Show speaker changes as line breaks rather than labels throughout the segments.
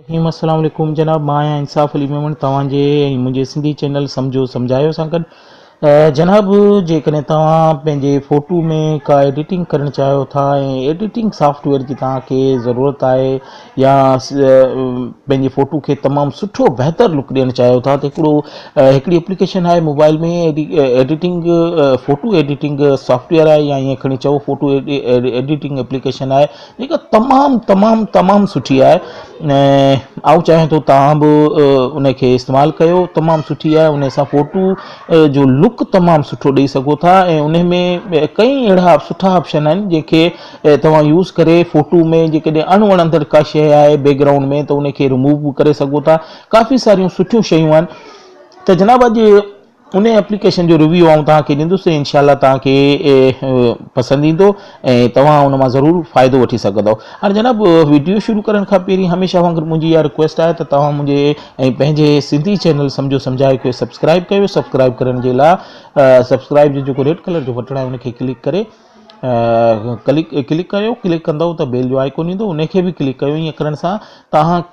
ابراهيم السلام عليڪم جناب مان آهيان انصاف علي ميمڻ توهان جي ۽ منهنجي سنڌي چينل سمجهو سمجهايو سان گڏ جناب جيڪڏهن توهان پنهنجي فوٽو ۾ ڪا ايڊيٽنگ ڪرڻ چاهيو ٿا ۽ ايڊيٽنگ سافٽ ويئر جي توهان کي ضرورت آهي يا پنهنجي فوٽو کي تمام سٺو بهتر لڪ ڏيڻ چاهيو ٿا ته هڪڙو هڪڙي اپليڪيشن آهي mobile ۾ editing photo editing software آهي يا ائين کڻي چئو فوٽو ايڊيٽنگ اپليڪيشن آهي جيڪا تمام تمام تمام سٺي آهي ۽ آئون چاهيان ٿو تهان به ان کي استعمال ڪيو تمام سٺي آهي ان سان فوٽو جو لڪ تمام سٺو ڏيئي سگهو ٿا ۽ ان ۾ ڪئي اهڙا سٺا آپشن آهن جنهن کي توهان يوز ڪري فوٽو ۾ جيڪڏهن اڻ وڻندڙ ڪا شيء آهي بيڪ گرائونڊ ۾ ته ان کي رموو به ڪري سگهو ٿا ڪافي ساريون سٺيون شيون آهن ته جناب اڄ ان ايپليڪيشن جو ريويو آئون توهان کي ڏيندس ۽ انشاء الله توهان کي پسند ايندو ۽ توهان ان مان ضرور فائدو وٺي سگهندؤ. هاڻ جناب وڊيو شروع ڪرڻ کان پهرين هميشه وانگر منهنجي اها رڪويسٽ آهي ته توهان منهنجي ۽ پنهنجي سنڌي چينل سمجهو سمجهايو کي سبسڪرائيب ڪيو سبسڪرائيب ڪرڻ جي لا سبسڪرائيب جو جيڪو ريڊ ڪلر جو بٽڻ آهي ان کي ڪلڪ ڪري ڪلڪ ڪلڪ ڪريو ڪلڪ ڪندو ته بيل جو آئڪون ايندو ان کي به ڪلڪ ڪيو ائين ڪرڻ سان تاهان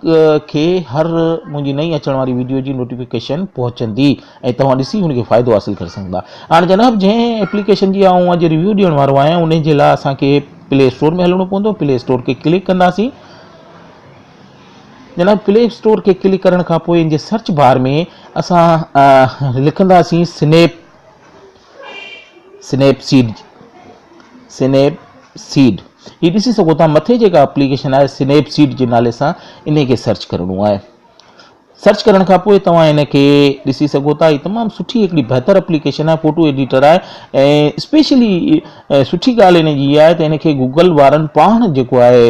کي هر منهنجي نئين اچڻ واري ويڊيو جي نوٽيفڪيشن پهچندي ۽ تواهان ڏسي ان کي فائدو حاصل ڪري سگهندا هاڻي جناب جنهن ايپليڪيشن جي آئون اڄ ريويو ڏيڻ وارو آهيان ان جي لاء اسان کي پلي اسٽور ۾ هلڻو پوندو پلي اسٽور کي ڪلڪ ڪنداسين جناب پلي اسٽور کي ڪلڪ ڪرڻ کان پوء ان جي سرچ بار ۾ اسان لکنداسين snap Snapseed Snapseed هي ڏسي سگهو ٿا مٿي جيڪا اپليڪيشن آهي سنيپ سيڊ جي نالي سان ان کي سرچ ڪرڻو آهي سرچ ڪرڻ کان پوء توهان ان کي ڏسي سگهو ٿا هي تمام سٺي هڪڙي بهتر اپليڪيشن آهي فوٽو ايڊيٽر آهي ۽ اسپيشلي سٺي ڳالهه ان جي آهي ته ان کي گوگل وارن پاڻ جيڪو آهي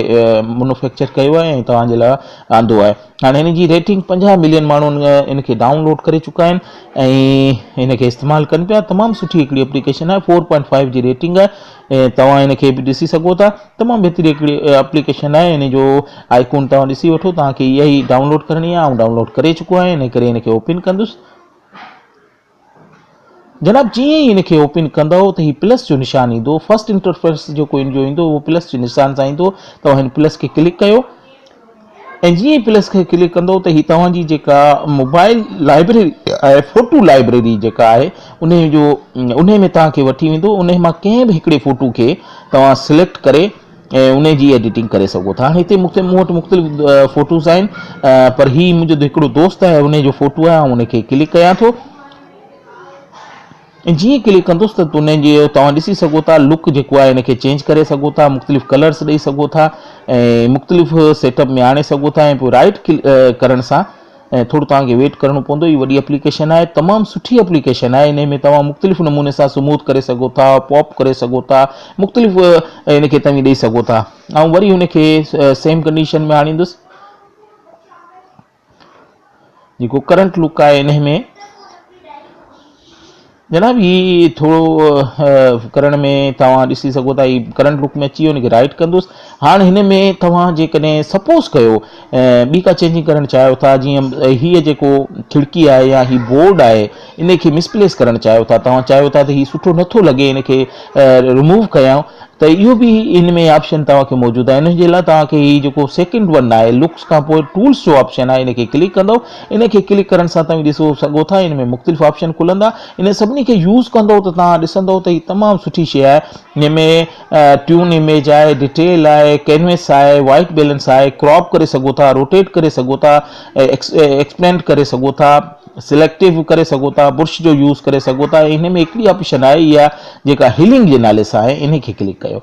منوفيڪچر ڪيو آهي ۽ توهان جي لاء آندو آهي هاڻ هن جي ريٽنگ پنجاهه ملين ماڻهو ان کي ڊائون لوڊ ڪري چڪا آهن ۽ ان کي استعمال ڪن پيا تمام سٺي هڪڙي اپليڪيشن آهي فور پوائنٽ فائيو جي ريٽنگ آهي توهان ان کي به ڏسي سگهو ٿا تمام بهتري هڪڙي اپليڪيشن آهي ان جو آئي ڪون توهان ڏسي وٺو توهان کي اها ئي ڊائون لوڊ ڪرڻي آهي آئون ڊائون لوڊ ڪري چڪو آهي ان ڪري ان کي اوپن ڪندس جناب جيئن ئي ان کي اوپن ڪندؤ ته هي پلس جو نشان ايندو فرسٽ انٽرفيس جيڪو ان جو ايندو اهو پلس جي نشان سان ايندو توهان هن پلس کي ڪلڪ ڪيو ۽ جيئن ئي پلس کي ڪلڪ ڪندو ته هي توهان جي جيڪا موبائل لائبرري آهي فوٽو لائبرري جيڪا آهي ان جو ان ۾ توهان کي وٺي ويندو ان مان ڪنهن به هڪڙي فوٽو کي توهان سليڪٽ ڪري ۽ انهي جي ايڊيٽنگ ڪري سگهو ٿا هتي مختلف مون وٽ مختلف فوٽوز آهن پر هي منهنجو هڪڙو دوست آهي انهي جو فوٽو آهي آئون انهي کي ڪلڪ ڪيان ٿو ۽ جيئن ڪلڪ ڪندس ته انهي جي توهان ڏسي سگهو ٿا لڪ جيڪو آهي انهي کي چينج ڪري سگهو ٿا مختلف ڪلرس ڏئي سگهو ٿا ۽ مختلف سيٽ اپ ۾ آڻي سگهو ٿا ۽ پوء رائيٽ ڪلڪ ڪرڻ سان ۽ ٿورو توهان کي ويٽ ڪرڻو پوندو هي وڏي اپليڪيشن آهي تمام سٺي اپليڪيشن آهي انهي ۾ توهان مختلف نموني سان سموٿ ڪري سگهو ٿا پاپ ڪري سگهو ٿا مختلف ان کي توهين ڏئي سگهو ٿا آئون وري ان کي سيم ڪنڊيشن ۾ آڻيندس جيڪو ڪرنٽ لوڪ آهي انهي ۾ جناب هي ٿورو ڪرڻ ۾ توهان ڏسي سگهو ٿا هي ڪرنٽ لوپ ۾ اچي ويو ان کي رائٽ ڪندوس هاڻ هن ۾ توهان جيڪڏهن سپوز ڪيو ٻي ڪا چينجنگ ڪرڻ چاهيو ٿا جيئن هي جيڪو کڙڪي آهي يا هي بورڊ آهي ان کي مسپليس ڪرڻ چاهيو ٿا توهان چاهيو ٿا ته هي سٺو نٿو لڳي ان کي رموو ڪيائون ته اهو به ان ۾ آپشن توهان کي موجود آهي ان جي لاء توهان کي هي جيڪو سيڪنڊ ون آهي لڪس کان پوء ٽولس جو آپشن آهي ان کي ڪلڪ ڪندو ان کي ڪلڪ ڪرڻ سان توهين ڏسو سگهو ٿا ان ۾ مختلف آپشن کلندا انهن سڀني کي يوز ڪندو ته توهان ڏسندو ته هي تمام سٺي شئي آهي جنهن ۾ ٽيون اميج آهي ڊيٽيل آهي ڪينويس آهي وائيٽ بيلنس آهي ڪراپ ڪري سگهو ٿا روٽيٽ ڪري سگهو ٿا ايڪسپينڊ ڪري سگهو ٿا سليڪٽو ڪري سگهو ٿا برش جو يوز ڪري سگهو ٿا ان ۾ هڪڙي آپشن آهي اها جيڪا هيلنگ جي نالي سان آهي ان کي ڪلڪ ڪيو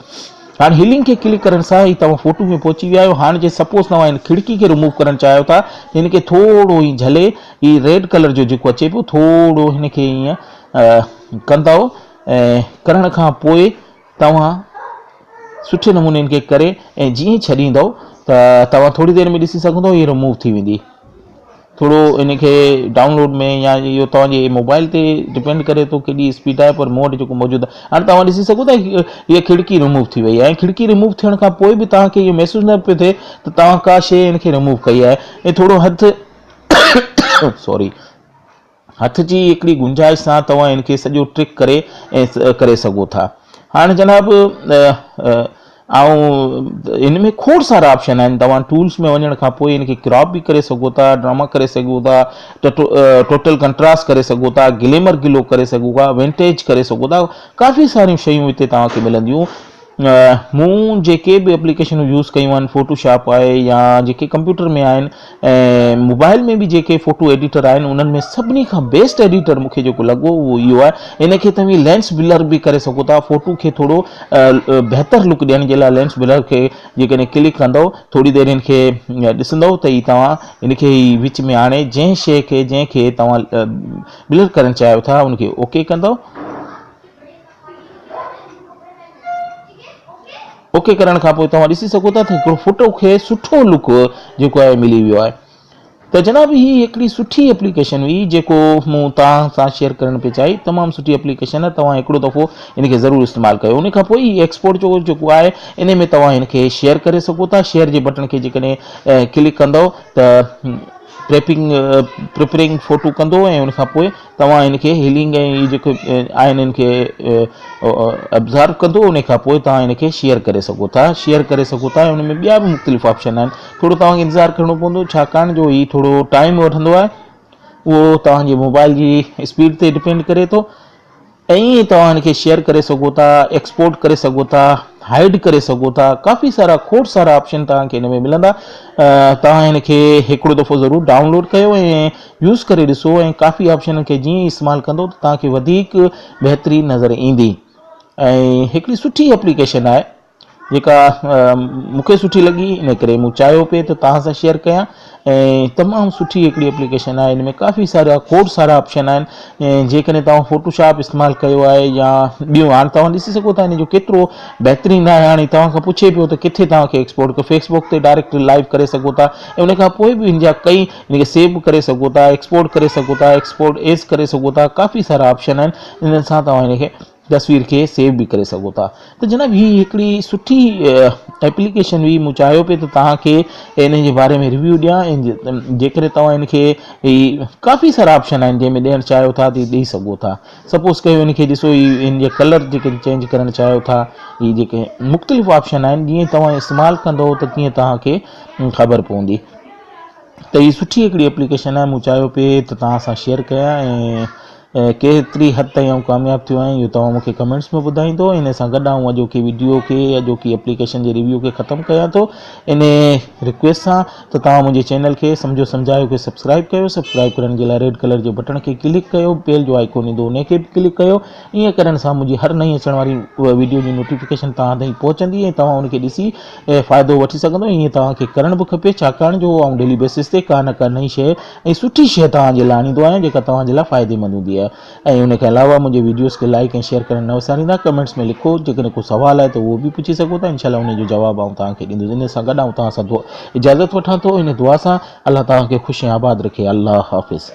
هاڻ هيلنگ کي ڪلڪ ڪرڻ سان ئي توهان فوٽو ۾ پهچي ويا آهيو هاڻ جي سپوز توهان هن کڙڪي کي رموو ڪرڻ چاهيو ٿا ته هن کي ٿورو ائين جهلي هي ريڊ ڪلر جو جيڪو اچي پيو ٿورو هن کي ائين ڪندؤ ۽ ڪرڻ کان پوء توهان سٺي نموني هن کي ڪري ۽ جيئن ڇڏيندؤ ته توهان ٿوري دير ۾ ڏسي سگهندؤ هي رموو ٿي ويندي ٿورو ان کي ڊائونلوڊ ۾ يا اهو توهان جي موبائل تي ڊپينڊ ڪري ٿو ڪيڏي اسپيڊ آهي پر مون وٽ جيڪو موجود آهي هاڻي توهان ڏسي سگهو ٿا هيء کڙڪي رموو ٿي وئي آهي ۽ کڙڪي رموو ٿيڻ کان پوء به توهان کي اهو محسوس نه پيو ٿئي ته توهان ڪا شيء ان کي رموو ڪئي آهي ۽ ٿورو هٿ سوري هٿ جي هڪڙي گنجائش سان توهان هن کي سڄو ٽرڪ ڪري ۽ ڪري سگهو ٿا هاڻ جناب آئون هن ۾ کوڙ سارا آپشن آهن توهان ٽولس ۾ وڃڻ کان پوء هن کي ڪراپ به ڪري سگهو ٿا ڊراما ڪري سگهو ٿا ٽوٽل ڪنٽراس ڪري سگهو ٿا گليمر گلو ڪري سگهو ٿا وينٽيج ڪري سگهو ٿا ڪافي ساريون شيون هتي توهان کي ملنديون مون جيڪي به اپليڪيشنون يوز ڪيون آهن فوٽو شاپ آهي يا جيڪي ڪمپيوٽر ۾ آهن ۽ موبائل ۾ به جيڪي فوٽو ايڊيٽر آهن انهن ۾ سڀني کان بيسٽ ايڊيٽر مونکي جيڪو لڳو اهو اهو آهي ان کي توهين لينس بلر به ڪري سگهو ٿا فوٽو کي ٿورو بهتر لڪ ڏيڻ جي لاء لينس بلر کي جيڪڏهن ڪلڪ ڪندو ٿوري دير ان کي ڏسندو ته هي توهان ان کي هي وچ ۾ آڻي جنهن شيء کي جنهن کي توهان بلر ڪرڻ چاهيو ٿا ان کي اوڪي ڪندو اوڪي ڪرڻ کان پوء توهان ڏسي سگهو ٿا ته هڪڙو فوٽو کي سٺو لوڪ جيڪو آهي ملي ويو آهي ته جناب هي هڪڙي سٺي اپليڪيشن هئي جيڪو مون توهان سان شيئر ڪرڻ پئي چاهي تمام سٺي اپليڪيشن آهي توهان هڪڙو دفعو ان کي ضرور استعمال ڪيو ان کان پوء هي ايڪسپورٽ جو جيڪو آهي ان ۾ توهان هن کي شيئر ڪري سگهو ٿا شيئر جي بٽن کي جيڪڏهن ڪلڪ ڪندو ته پريپنگ پريپرنگ فوٽو ڪندو ۽ ان کان پوء توهان هن کي هيلنگ ۽ هي جيڪي آهن هن کي ابزارب ڪندو ان کان پوء توهان هن کي شيئر ڪري سگهو ٿا شيئر ڪري سگهو ٿا ۽ ان ۾ ٻيا به مختلف آپشن آهن ٿورو توهان کي انتظار ڪرڻو پوندو ڇاڪاڻ جو هي ٿورو ٽائيم وٺندو آهي اهو توهان جي موبائل جي اسپيڊ تي ڊپينڊ ڪري ٿو ائين ئي توهان هن کي شيئر ڪري سگهو ٿا، ايڪسپورٽ ڪري سگهو ٿا، هائيڊ ڪري سگهو ٿا، ڪافي سارا کوڙ سارا آپشن توهان کي هن ۾ ملندا. توهان هن کي هڪڙو دفعو ضرور ڊائونلوڊ ڪيو ۽ يوز ڪري ڏسو ۽ ڪافي آپشنن کي جيئن ئي استعمال ڪندو ته توهان کي وڌيڪ بهتري نظر ايندي ۽ هڪڙي سٺي اپليڪيشن آهي. جيڪا مون کي سٺي لڳي ان ڪري مون چاهيو پئي ته توهان سان شيئر ڪيان ۽ تمام سٺي هڪڙي اپليڪيشن آهي ان ۾ ڪافي سارا کوڙ سارا آپشن آهن ۽ جيڪڏهن توهان فوٽو شاپ استعمال ڪيو آهي يا ٻيون هاڻ توهان ڏسي سگهو ٿا ان جو ڪيترو بهترين آهي هاڻي توهان کان پڇي پيو ته ڪٿي توهان کي ايڪسپورٽ ڪيو فيسبوڪ تي ڊائريڪٽ لائيو ڪري سگهو ٿا ۽ ان کان پوء به ان جا ڪئي ان کي سيو به ڪري سگهو ٿا ايڪسپورٽ ڪري سگهو ٿا ايڪسپورٽ ايز ڪري سگهو ٿا ڪافي سارا آپشن آهن انهن سان توهان ان کي تصوير کي سيو به ڪري سگهو ٿا ته جناب هي هڪڙي سٺي ايپليڪيشن هئي مون چاهيو پئي ته توهان کي ان جي باري ۾ ريويو ڏيان ۽ جيڪڏهن توهان ان کي هي ڪافي سارا آپشن آهن جنهن ۾ ڏيڻ چاهيو ٿا ته ڏيئي سگهو ٿا سپوز ڪيو ان کي ڏسو هي ان جا ڪلر جيڪي چينج ڪرڻ چاهيو ٿا هي جيڪي مختلف آپشن آهن جيئن توهان استعمال ڪندو ته تيئن توهان کي خبر پوندي ته هي سٺي هڪڙي ايپليڪيشن آهي مون چاهيو پئي ته توهان سان شيئر ڪيان ۽ ۽ ڪيتري حد تائين آئون ڪامياب ٿيو آهيان اهو توهان مون کي ڪمينٽس ۾ ٻڌائيندو ان سان گڏ آئون اڄوڪي وڊيو کي اڄوڪي اپليڪيشن جي ريويو کي ختم ڪيان ٿو ان رڪويسٽ سان ته توهان منهنجي چينل کي سمجهو سمجهايو کي سبسڪرائب ڪيو سبسڪرائب ڪرڻ جي لاء ريڊ ڪلر جي بٽڻ کي ڪلڪ ڪيو بيل جو آئيڪون ايندو ان کي به ڪلڪ ڪيو ائين ڪرڻ سان منهنجي هر نئين اچڻ واري وڊيو جي نوٽيفڪيشن توهان تائين پهچندي ۽ توهان ان کي ڏسي فائدو وٺي سگهندو ائين توهان کي ڪرڻ به کپي ڇاڪاڻ جو آئون ڊيلي بيسس تي ڪا نه ڪا نئين شيء ۽ سٺي شيء توهان جي لاء آڻيندو آهيان جيڪا توهان جي لاء فائديمند هوندي آهي ۽ ان کان علاوه منهنجي ويڊيوز کي لائيڪ ۽ شيئر ڪرڻ نه وساريندا ڪمينٽس ۾ لکو جيڪڏهن ڪو سوال آهي ته اهو به پڇي سگهو ٿا انشاء الله انهي جو جواب آئون توهان کي ڏيندس ان سان گڏ آئون توهان سان اجازت وٺان ٿو ان دعا سان الله توهان کي خوش ۽ آباد رکي الله حافظ